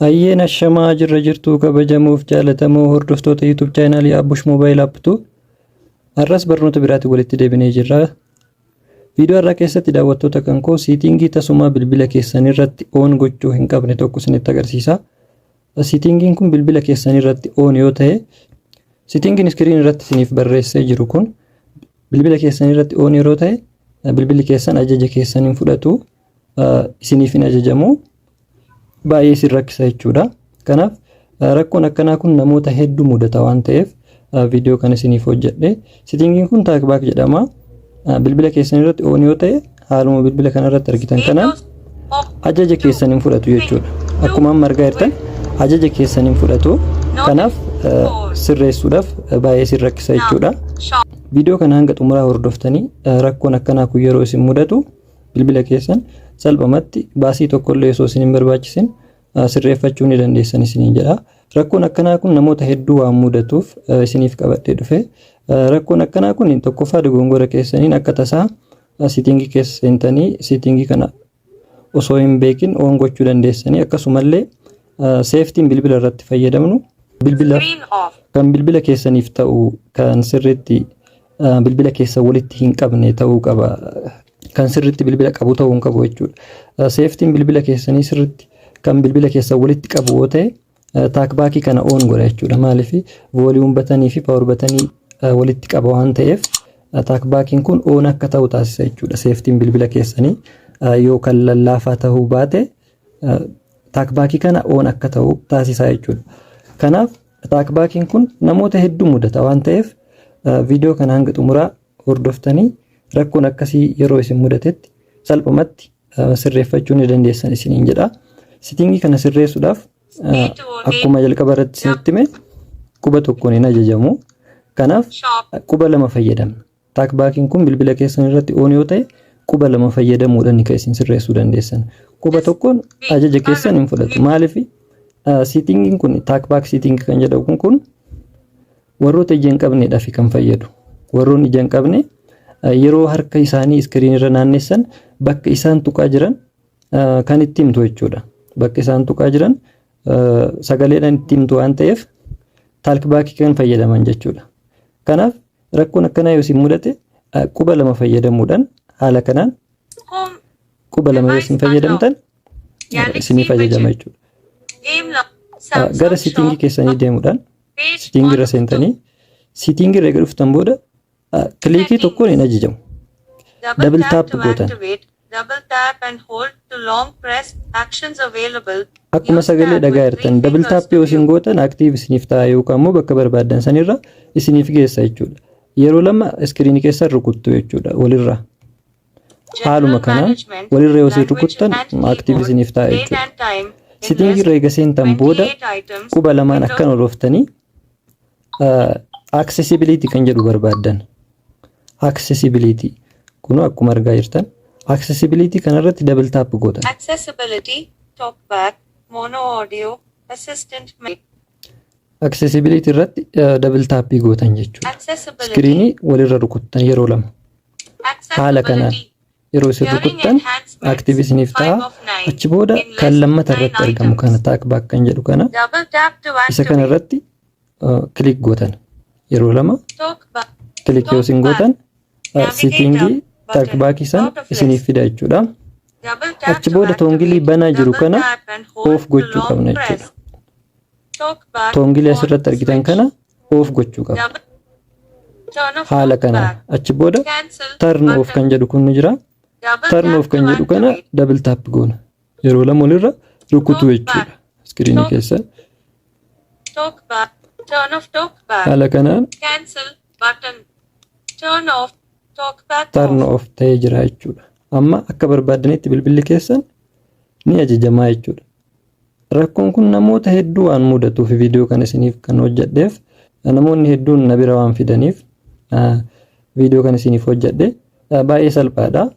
Hayyeen ashamaa jirra jirtuu kabajamoof jaalatamoo hordoftoota YouTube chaanaalii Abbush Mobile App tu har'as barnoota biraatiin walitti deebinee jirra. Viidiyoo har'aa keessatti daawwattoota kan koo siitingii tasumaa bilbila keessan irratti oon gochuu hin qabne tokko isinitti agarsiisa. Siitingiin kun bilbila keessan irratti oon yoo ta'e siitingiin iskiriin irratti isiniif barreessee jiru kun bilbila keessan irratti oon yeroo ta'e bilbilli keessan ajaja keessan hin fudhatu. isiniif hin ajajamu baay'ee isin rakkisa jechuudha. Kanaaf rakkoon akkanaa kun namoota hedduu mudata waan ta'eef viidiyoo kan isiniif hojjedhe. Sitingiin kun taakbaak jedhama. Bilbila keessan irratti oon yoo ta'e haaluma bilbila kana irratti argitan kanaan ajaja keessan hin fudhatu jechuudha. Akkuma amma argaa jirtan ajaja keessan hin fudhatu. Kanaaf sirreessuudhaaf baay'ee isin rakkisa jechuudha. Viidiyoo kana hanga xumuraa hordoftanii rakkoon akkanaa kun yeroo isin mudatu Bilbila keessan salphumatti baasii tokkollee osoo isin hin barbaachisin sirreeffachuu ni dandeessan isiniin jedha. Rakkoon akkanaa kun namoota hedduu waan mudatuuf isiniif qabadhee dhufe. Rakkoon akkanaa kun tokkoffaa dogongora keessaniin akka tasaa sitingii keessa seentanii sitingii kana osoo hin beekin oon gochuu dandeessanii akkasumallee seeftiin bilbila irratti fayyadamnu bilbila kan bilbila keessaniif ta'u kan sirriitti bilbila keessan walitti hin qabne ta'uu qaba. Kan sirriitti bilbila qabu ta'uu hin qabu jechuudha. Seeftiin bilbila keessanii sirriitti kan bilbila keessan walitti qabu yoo ta'e taakbaakii kana oon godha jechuudha. Maaliif vooliyuum batanii fi paawar batanii walitti qaba waan ta'eef taakbaakiin kun oon akka ta'u taasisa jechuudha. Seeftiin bilbila keessanii yoo kan lallaafaa ta'uu baate taakbaakii kana oon akka ta'u taasisa jechuudha. Kanaaf Ataak baakiin kun namoota hedduu mudata waan ta'eef viidiyoo kana hanga xumuraa hordoftanii rakkoon akkasii yeroo isin mudatetti salphumatti sirreeffachuu ni dandeessan isiniin jedha. Sitingii kana sirreessuudhaaf akkuma jalqaba irratti isinitti hime quba tokkoon hin ajajamu. Kanaaf quba lama fayyadamna. Taakbaakiin kun bilbila keessan irratti oon yoo ta'e quba lama fayyadamuudhaan kan isin sirreessuu dandeessan. Quba tokkoon ajaja keessan hin fudhatu. Maaliif siitingiin kun taakbaak siitingi kan jedhamu kun warroota ija hin qabneedhaaf kan fayyadu. Warroon ija hin qabne yeroo harka isaanii iskiriin irra naannessan bakka isaan tuqaa jiran kan itti himtu jechuudha. Bakka isaan tuqaa jiran sagaleedhaan itti himtu waan ta'eef taalkibaakii kan fayyadaman jechuudha. Kanaaf Rakkoon akkanaa yoo isin mudate quba lama fayyadamuudhaan haala kanaan quba lama yoo isin fayyadamtan isiniif ajajama jechuudha. Gara sitingii keessanii deemuudhaan sitingii irra seentanii sitingii irra eega dhuftan booda kiliikii tokkoon hin ajajamu. Dabil taap gootan. double tap and hold to long press, actions available, Akkuma use sagalee tab dhagaa with jirtan three double fingers tap to yoo isin view. gootan active isiniif ta'a yookaan immoo bakka barbaaddan sanirra isiniif geessa jechuudha. Yeroo lama iskiriinii keessan rukuttu jechuudha walirra. General Haaluma kanaan management, walirra yoo isin language rukuttan and active keyboard, isiniif ta'a date jechuudha. and time, Sitingii invest, irra eega seentan booda 28 items, quba lamaan window. akkan olooftanii Accessibility kan jedhu barbaaddan. Accessibility. Kun akkuma argaa jirtan. Accessibility kanarratti double tap gootan. Accessibility, talkback, mono audio, assistant menu. Accessibility irratti double tap gootan jechuudha. Accessibility. Iskiriinii walirra rukuttan yeroo lama. Haala kanaan Accessibility. yeroo isin rukuttan active isiniif ta'a. Achi booda kan lammata irratti argamu kana talkback kan jedhu kana Double tap to isa kana activate. irratti kilik gootan yeroo lama kilik yoo isin gootan siitiingii taakbaakii san isiniif fida jechuudha. Achi booda toongilii banaa jiru kana oof gochuu qabna jechuudha. Toongilii asirratti argitan kana oof gochuu qabna. Haala kanaan achi booda tarn oof kan jedhu kun ni jira. Tarn oof kan jedhu kana dabil taap goona. Yeroo lama olirra rukutuu jechuudha. Iskiriinii keessa. Talk back. Turn off talk back. Haala kanaan Cancel button. Turn off talk back. tarn off. of ta'ee jira jechuudha. Amma akka barbaaddanitti bilbilli keessan ni ajajamaa jechuudha. Rakkoon kun namoota hedduu waan mudatuuf viidiyoo kan isiniif kan hojjedheef namoonni hedduun na bira waan fidaniif viidiyoo kan isiniif hojjedhe baay'ee salphaadha.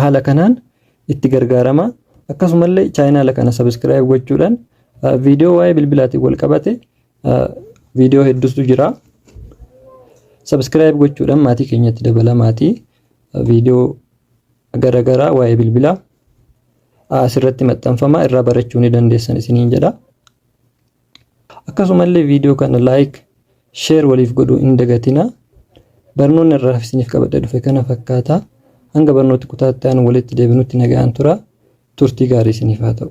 Haala kanaan itti gargaarama. Akkasumallee chaayinaala kana sabiskiraayib gochuudhaan viidiyoo waa'ee bilbilaatiin wal qabate viidiyoo hedduutu jira. Sabiskiraayib gochuudhaan maatii keenyatti dabalamaatii viidiyoo garaagaraa waa'ee bilbilaa asirratti maxxanfama irraa barachuu ni dandeessan isiniin jedha. Akkasumallee viidiyoo kana like, share waliif godhuu hin dagatinaa. Barnoonni har'aaf isiniif qabadhe dhufe kana fakkaata. Hanga barnooti kutaa itti aanu walitti deebinutti nagaan tura. Turtii gaarii isiniif haa ta'u.